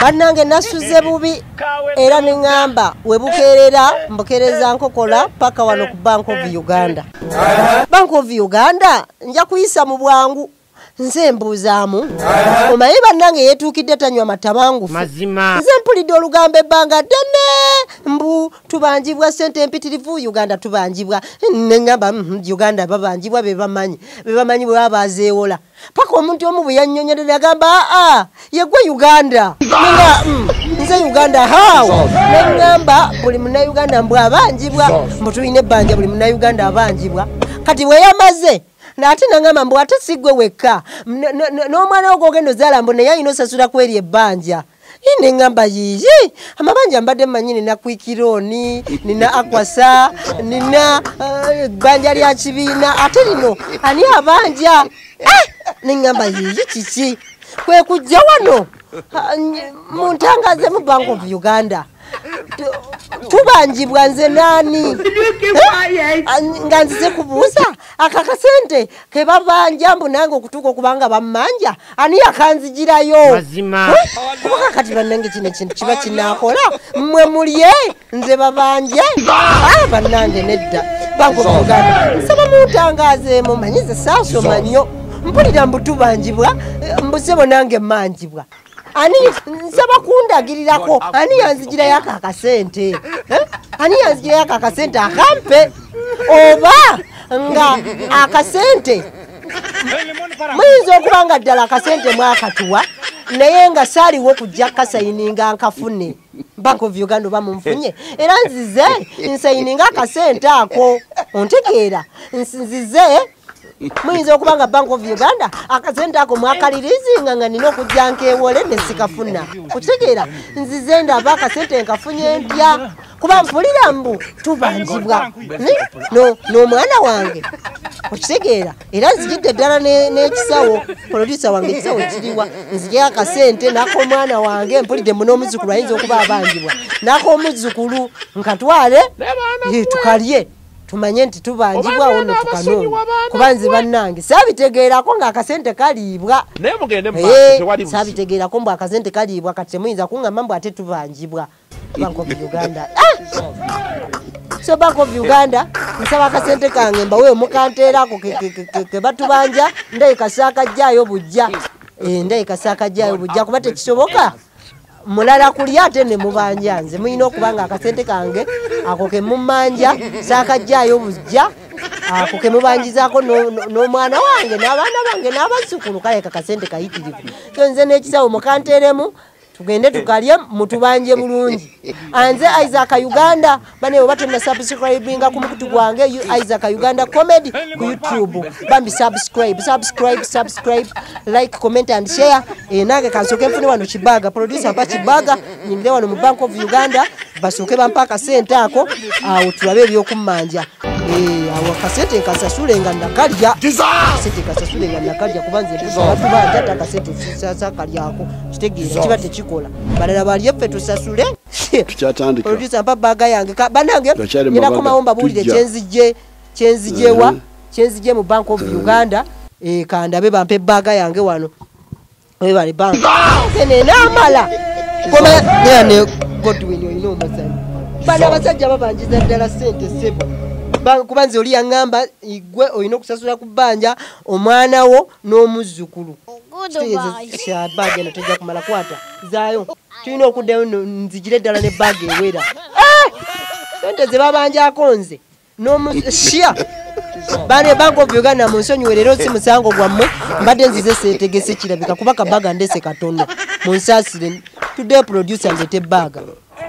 bannange nasuze bubi era neŋŋamba we bukeerera mbukeereza nkokola paka wano ku bank of uganda bank of uganda nja kuyisa mu bwangu nze mbuuzaamu omaye bannange yeetuukidde tanywa matabangufu nze mpulidde olugambo ebbanga ddene mbu tubanjibwa sente empitirivu uganda tubanjibwa neŋŋamba mm, uganda babanjibwa bebamanyi bebamanyi bwe baba bazeewola paka omuntu omu bwe yannyonyolera agamba aa yegwe uganda nga mm, nze uganda how neŋŋamba buli munauganda mbu abanjibwa mbu tulina ebbanja buli munauganda abanjibwa kati bwe yamaze ate naŋamba mbu ate sigwe wekka n'omwana wo gwogenda ozaala mbu naye alina osasula kweri ebbanja naye neŋamba yiyi amabanja mbadde manyi nina kwikironi nina akwasa nina eh, ebbanja uh, lya kibiina ate lino ani abanja eh, neŋamba yiyi kiki kwekujja wano muntangaze mu bank of uganda tubanjibwa nze nani nga nzize kubuusa aka kasente kebabanja mbu nange okutuuka okubanga bamanja ani yakanzijirayo kuba kati banange kino ekintu kiba kinakola mwe mulye nze babanje ah, banange nedda bangoogana nsaba muntangazeemu manyize saasoma nnyo mpulira mbutubanjibwa eh, mbusebo nange manjibwa ani nsaba kundagirirako ani yanzijirayo ako akasente eh? ani yanzijirayo ako akasente akampe oba nga akasente muyinza okuba nga ddala akasente mwakatuwa naye nga saaliwo kujja kasayininga nkafune bank of uganda oba munfunye era nzize nsayininga akasente ako ontegeera nzize muyinza okuba nga bank of uganda akasente ako mwakalirizinga nga nina okujja nkewole nesikafuna okitegeera nzize ndaba akasente nkafunye ntya kuba mpulira mbu tubanjibwa n'omwana wange okitegeera era nzijidde ddala n'ekisawo polodusa wange ekisawo kiriwa nzijeo akasente nakomwana wange mpulidde mu n'omuzzukulu ayinza okuba abanjibwa nakomuzzukulu nkatwale tukalye tumanye nti tubanjibwawo notukanona kuba nze bannange sabitegeerako nga akasente kaliibwa eh, sabitegeerako mbu akasente kaliibwa kati temuyinza kuŋama mbu ate tubanjibwa bank of uganda ah! so bank of uganda nsaba akasente kange mbawe omukanteerako kebatubanja ndayikasaakajjaayo bujja eh, ndayikasaakajjaayo bujja kuba tekisoboka mulala kulya ate ne mubanja nze mulina okuba nga akasente kange ako ke mumanja saakajjaayo bujja ako ke mubanjizaako n'omwana wange n'abaana bange n'abazzukulu kale kakasente kayitirivu so nze n'ekisawo mukanteeremu tugende tukalye mutubanje bulungi anze isaaka uganda bane oba tonna subscribinga ku mukutu gwange isaac uganda comedy ku youtube bambi subscribe subscribe subscribe like comment and share eh, nange kansooke nfune wano kibaga producer mpa kibaga nyingire wano mu bank of uganda basooke bampa akasente ako awo tulabe ebyokummanja eh, awo akasente nkasasule nga nakalya kasente kasasule nga nakalya kuba nze batubanja ate akasente sasakalyako kitegeera kiba tekikola balala balye ffe tusasule tukyatandika producer mpa baga yange banange nina komawo mbabuulire kyenzijje kyenzijewa uh-huh. kyenzijje mu bank of uh-huh. uganda eh, kandabe bampe baga yange wano webale bank nenamala komayane godwin olina omuzanyi bana abasajja babanjiza ddala sente sebo kuba nze oli yaŋŋamba igwe olina okusasula ku bbanja omwana wo n'omuzzukulu kitegeeza kyabaageno tejja kumala kwata zaayo tulina okuddayo nzijire ddala ne bag ewera eh! sente zebabanjako nze nomushia bane bank of uganda munsonyiwe leero si musango gwammwe mbadde nzize setegese kirabika kuba kabaga ndese katono munsasire tudde producer ndete baga